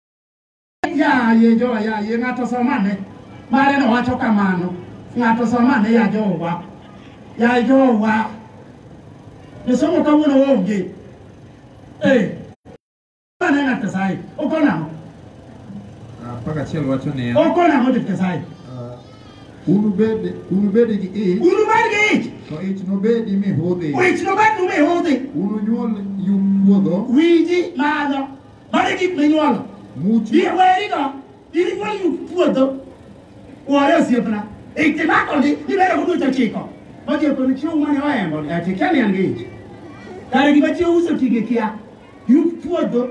S2: Yaye jo
S1: yaye ng'ato somane mare no wacho kamano ng'ato somane ya jowa ya jowa josomo kawuono onge eh mane ng'at Nyasaye ok onamo Ah,
S4: Pak achiel wacho niya, ok onamo jot Nyasaye
S1: ah, unubed
S4: unubed gi ich unu mar gi ich to ich nobedi mihudhi wich nobed nume hudhi
S1: ununyuol yum
S4: puodho wiji malo
S1: Mare gik minyuolo. Muchi. Bi weri
S4: go.
S1: Iri kwa yu puodho. Wore osiepna. Ikimako ndi ibere kudu cha chiko. Moje kono chiwo mane waembo. Ati kani angeji. Kare gima chiwo uso tige kia. Yu puodho.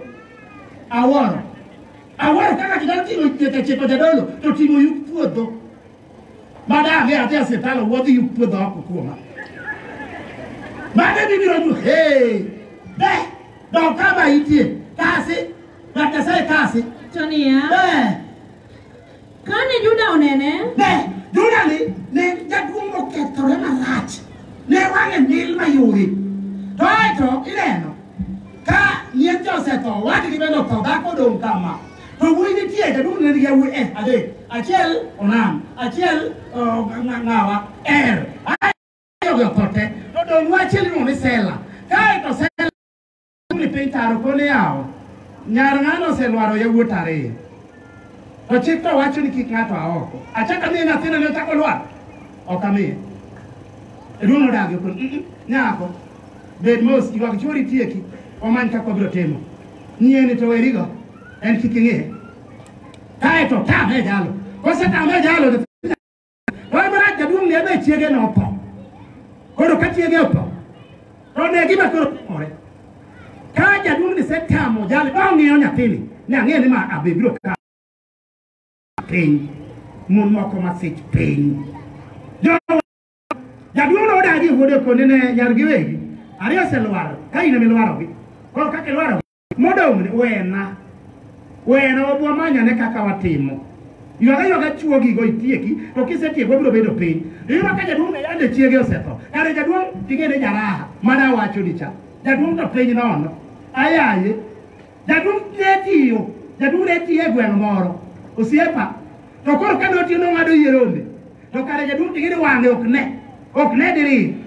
S1: Aworo. Aworo kaka kidaro timo cha chiko jadolo. To timo yu puodho. Mada ame ati asetalo wodhi yu puodho oko kuoma. Mada bibiro nyu. Hey. Beh. Don kama itie kasi ng'at Nyasaye kasi. To niya,
S2: Eh, kane Juda onene, ne Juda
S1: ni ne jaduong' mokethore marach ne wang'e mil mayori. To aeto ineno ka yien cha osetho wadgi bende otho dhako odong' kama. To wuoyi nitie jaduong' ne nigi yawuoyi eh, adek achiel Onam achiel oh, ng'a- ng'a- ng'awa Er. Ogoyo kote, to dong' wache iluongo ni Sela. Kae to Sela ni piny taro koni yawo. Nyar ng'ano oselwaro yawuot ariyo. To chik to wacho ni kik ng'ato a oko. Achaka miye nyathina ne ochako lwar. Ok amiye. Ruono dagi kun "Mm-mm, nyako bed mos ywag chwori tieki omany kaka wabiro timo. Nyieni to werigo en kik ing'e. Kae to tame jalo. Kosetame jalo to Wach marach jaduong' ni ebe chiege notho. Koro ka chiege otho, to ne gima koro timore. Ka jaduong' ni setamo jali ma ong'iyo nyathini, ne ang'eyo ni ma abe biro ka piny. Mon moko masich piny. Jo- Jaduong' no odagi wuode kone ne nyargi wegi. Ariyo oselwar, ka in ema ilwarogi. Koro kaka ilwarogi, Modong' wena, wena wabu wamanyane kaka watimo. Ywaga ywaga chuogigo itieki, to kisetieko wabiro bedo piny. Iyudo ka jaduong' ne yande chiege osetho. Kare jaduong' ting'ene jaraha, mana awacho ni cha. Jaduong' to piny nono. Ayaye. Jaduong' ne tiyo, jaduong' ne tiyo e gweng' moro. Osiepa. To koro ka notiyo nong'ado yie rombe. To kare jaduong' ting'ene wang'e ok ne. Ok ne diriyo.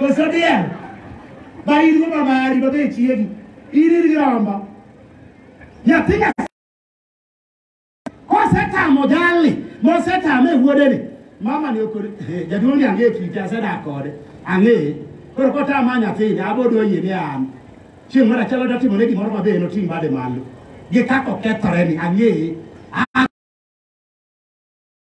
S1: Koso diel. Ba in go mamari ba be chiegi. In in girombo. Nyathi nyathi. Kosetamo jalni, mosetame wuode ni. Mama ni okore, eh, jaduong' ni ang'e kite asedak kode. Ang'e. Koro kotama nyathini, abodo yie ni an. Chieng' moro achiel odwa timone gimoro mabe en oting' bade malo. Gi kaka okethore ni, ang'e.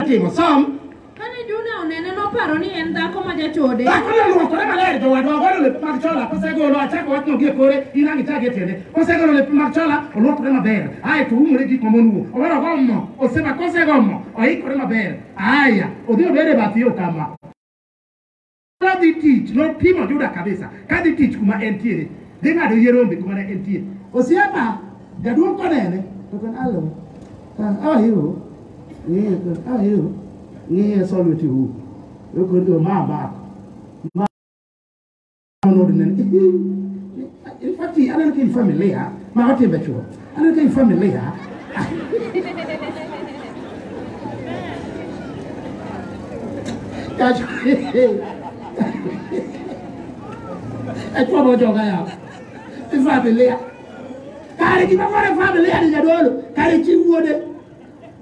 S1: Timo som. Kane Juna
S2: onene noparo ni en dhako ma jachode. Dhako no luokore maler
S1: jowadwa ogolo lepe mag chola kosegolo achako wachno gie kore in ang' ichak e tiende. Kosegolo lepe mag chola oluokore maber ae to oumore gik ma mon wuo. Owero ogo mo oseba kosego mo oikore maber. Aya odhi obed e bath yo kama. Kadhi tich, nopimo Juda kabisa. Kadhi tich kuma entiere. Dhi ng'ado yie rombe kuma ne entie. Osiepa, jaduong' konene. To kan alo. Ah, how are you? Ng'iye, to, how are you? Ng'iye solve it you. Yoko ndio mama. Mama nodnen. In fact, aneno ka in familia, ma watimbe chuo. Ano dai family ha. Kacho. E kwa mo joga ya. E family. Kare ki ma kore family ya ni jadolo. Kare chi wuode.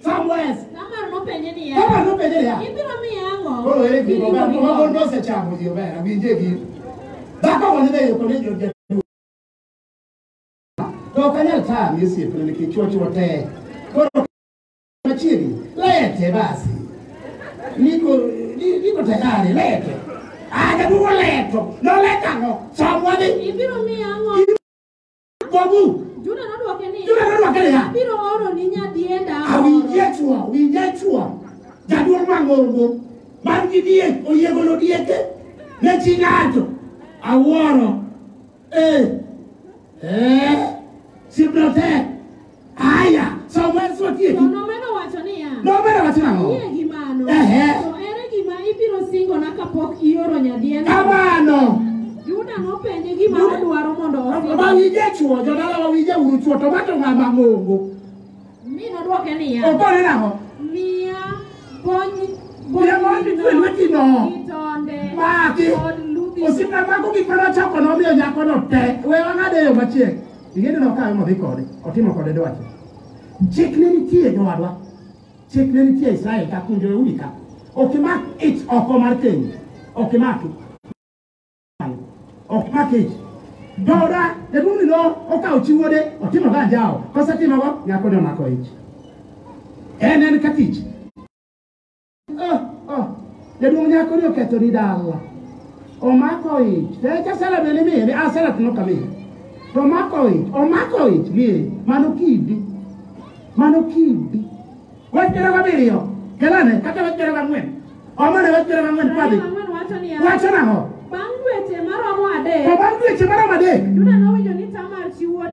S1: Somewhere
S2: else. Tamar nopenje niya, Kama
S1: nopenje
S2: niya, ibiro miya ang'o? koro ere gima Gini ober,
S1: gini kuma mon go. nosechamo ji ober, awinje gini. Dhako mane dhi yuko ni jo- jaduong'. To ok anyal tami osiepna nikech chuochuo te. Koro machiegni, lete basi. Niko, ni- niko tayari, lete. Ah, jaduong' oleto, noleta ang'o? Somwa ni Ibiro miya
S2: ang'o? Kuomu.
S1: Juda nodwoke
S2: ni, Juda nodwoke niya. Abiro
S1: oroni
S2: nyadienda Awinje chwa, awinje
S1: chwa. Jaduong' mang'ongo man gi diek oyiegolo dieke ne chi ng'ato. Awuoro. Eh. Eh. Sibrotek. Aya, so wes watieki. To nomedo wacho
S2: niya, Nomedo wacho nang'o? Kiyie
S1: gi mano, Ehe.
S2: to ere gima ibiro singona kapok ioro nyadiendno? Kamano.
S1: Juda
S2: nopenje gima odwaro mondo Ma osingne. wije chuo,
S1: jodala ma wije uru chuo, to mato ng'ama ng'ongo. Mi
S2: nodwoke niya, Okone nang'o?
S1: Miya
S2: bony- Miya bony bonyino, mitwe lwetino.
S1: gi tonde, Maki. kod ludhi. Osiepna mago gik mane ochoko nomiyo nyakono te. We wang'ade yo machiek. Ing'eyo ni okawe modhi kode, otimo kode dwache. Chik ne nitie jowadwa. Chik ne nitie Israel ka kunjo e udi ka. Ok imak ich oko mar keny. Ok imak. Ok imak ich. Dora, jaduong' ni no okawo chi wuode, otimo ga anjawo. Kosetimogo, nyako ne omako ich. En en ka tich. Oh, oh. Jaduong' nyako ni oketho ni dala. Omako ich. Tech asela bende miye. Asela to noka miye. To omako ich. Omako ich miye. Mano kidi. Mano kidi. Wach piero gabiriyo. Kelane. Kata wach piero gang'wen. Omane wach piero
S2: gang'wen. Padhi. Ang'wen
S1: wacho
S2: niya, Wacho
S1: nang'o? Bang' dweche maromo adek,
S2: To bang' dweche maromo
S1: adek. Juda nowinjo ni
S2: Tamar chi wuode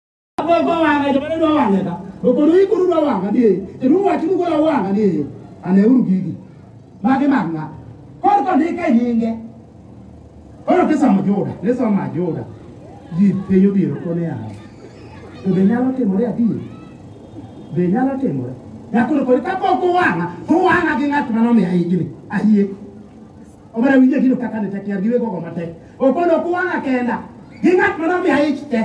S2: Akwekwa
S1: wang'a jomane dwa wang'e ka. To koro ikuru dwa wang'a ni e. Kendo uwacho ni koro wang'a ni e. Aneuru gigi. Magi mag ng'a. Koro kondike nyinge. Koro kisomo Juda, nisomo Juda. Ji piny obiro kone yawa. To be nyalo timore adier? Be nyalo timore? Nyakoro koro kapok uwang'a, to uwang'a gi ng'at mane omiya higni. Ayie. omera winje gino kaka ne tek yar gi wegogo matek okono kuwang'a kenda gi ng'at ma nomiya ich te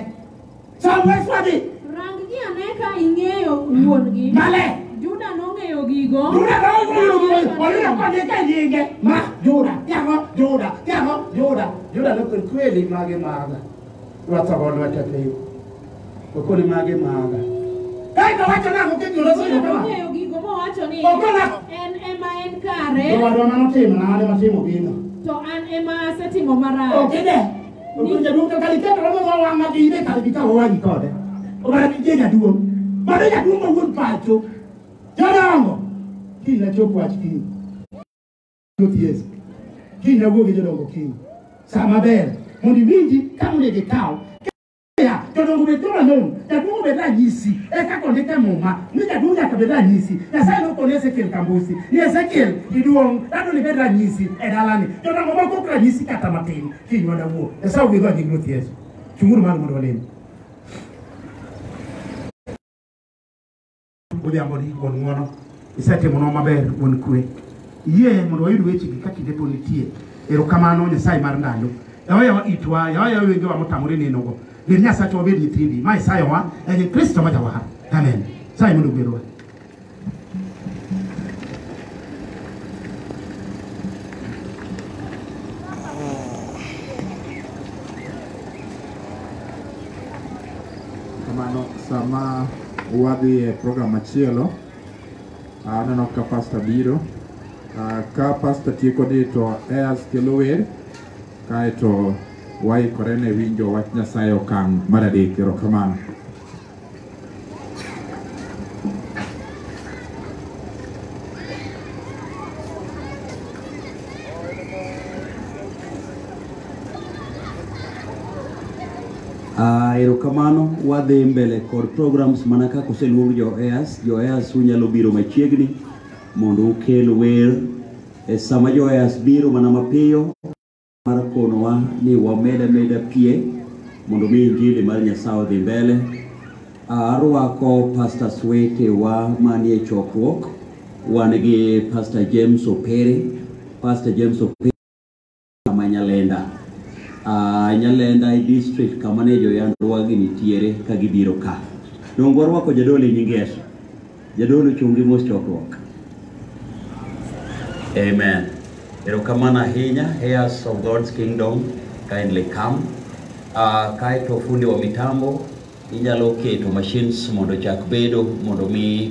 S1: som weswadhi Rang ji ane
S2: ka ing'eyo wuon-gi. male Juda
S1: nong'eyo
S2: gigo. Juda nong'eyo gigo.
S1: Oyudo kondike nyinge. Ma Juda, yamo Juda, yamo Juda. Juda nokoni kweli magi maga. Rwathogo lwete piny. Okone mage maga. Kae ka wacho nang'o kendo loso yo kama. Ong'eyo gigo mowacho
S2: ni Okona. en ema
S1: en
S2: To kare wadwa mano timo na
S1: ane matimo gino. to an ema
S2: asetimo marach. Okede.
S1: Okon jaduong' to kali keto romo ma wang'a gi ine kali bikawo wang'i kode. Obara ni je jaduong'. Mano jaduong' ma wuon pacho. Jodongo. Kiny na chop wach kiny. Ruoth Yesu. Kiny na wuo gi jodongo kiny. Sa maber. Mondo iwinji ka monego ikaw. ya tondå gå bä tå ra må jaduo gå bä ra nyisi eka kå ndä ke må ma nä jaduo nyaka bä ra nyisi nyasaye nä å kå nä ezekiel kambusi nä ezekiel iduong andå nä bä ra nyisi edalani tondå ngå bakå kra nyisi kata matin kinywa dawuo nyasaye å gä thwa nying ruoth yesu cunguru malo mondo walemi Odhiamboni wuon ng'wono, isetimonwa maber wuon kwe. Yie mondo wayud wechegi ka kinde pod nitie. Erokamano Nyasaye mar ndalo. Yawa yawa itwa, yawa yawa wengewa motamore nenogo. Gin Nyasacho wabed nyithindi, ma isayowa en Kristo ma jawar. Amen. Saye mondo ogwedhwa. Kamano
S5: sama Wadhi e program machielo. Aneno ka pasta biro. Ah, Ka pasta tieko ni to Eas kelo wer kaeto waikore ne winjo wach Nyasaye okang' mar adek. Erokamano.
S6: Ah, erokamano wadhi mbele kod programs mana kaka oseluong joeas joeas unyalo biro machiegni mondo ukel wer e sama joeas biro mana mapiyo mar konowa ni wamed ameda pie mondo mi injili mar nyasaye odhi mbele Ah, arwako pastor swete wa manie chokruok wan gi pastor james opere pastor james opere kama Nyalenda. Uh, Nyalenda e district kama ne joyandruagi nitiere ka gibiro ka. Donge warwako jadolo e nying Yesu? Jadolo chungi mos chokruok. Amen. Erokamano ahinya, heirs of God's kingdom, kindly come. Uh, kaeto fundi wa mitambo inyalo keto machines mondo chak bedo mondo mi